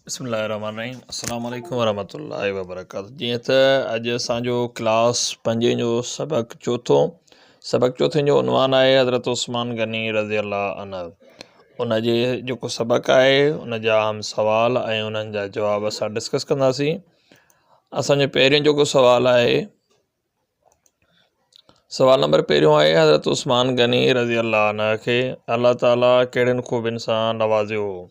بسم الله الرحمن الرحيم السلام عليڪم ورحمة الله وبرڪاته جي ته اڄ اسان جو ڪلاس پنجين جو سبق چوٿو سبق چوٿين جو عنوان آهي حضرت عثمان غني رضي الله عنه ان جي جيڪو سبق آهي ان جا اهم سوال ۽ انهن جا جواب اسان ڊسڪس ڪنداسين اسان جو پهريون جيڪو سوال آهي سوال نمبر پهريون آهي حضرت عثمان غني رضي الله عنه کي الله تعالٰي کهڙين خوبين سان نوازيو هو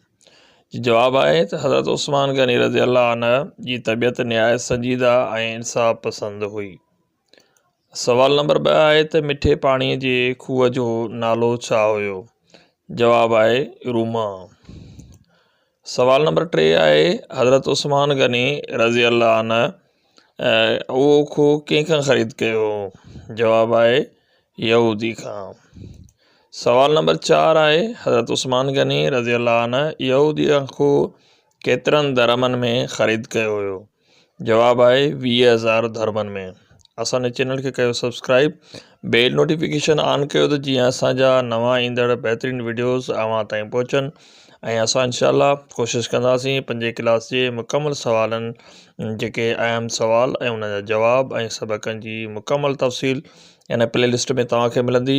جواب آهي ته حضرت عثمان غني رضي الله عنه جي طبيعت نهايت سنجيده ۽ انصاف پسند هئي سوال نمبر ٻه آهي ته مٺي پاڻيء جي کوهه جو نالو ڇا هيو؟ جواب آهي روما. سوال نمبر ٽي آهي حضرت عثمان غني رضي الله عنه اهو کوهه ڪنهن کان خريد ڪيو هو؟ جواب آهي يهودي کان. سوال نمبر چار آهي حضرت عثمان غني رضي الله عنه يهوديء کان کوهه ڪيترن درهمن ۾ خريد ڪيو هيو؟ جواب آهي ويهه هزار ڌرمن ۾. اسان جي چينل کي ڪيو سبسڪرائيب بيل نوٽيفڪيشن آن ڪيو ته جيئن اسان جا نوان ايندڙ بهترين وڊيوز اوهان تائين پهچن ۽ اسان انشاء الله ڪوشش ڪنداسين پنجين ڪلاس جي مڪمل سوالن جيڪي اهم سوال ۽ انهن جا جواب ۽ سبقن جي مڪمل تفصيل ان پلي لسٽ ۾ توهان کي ملندي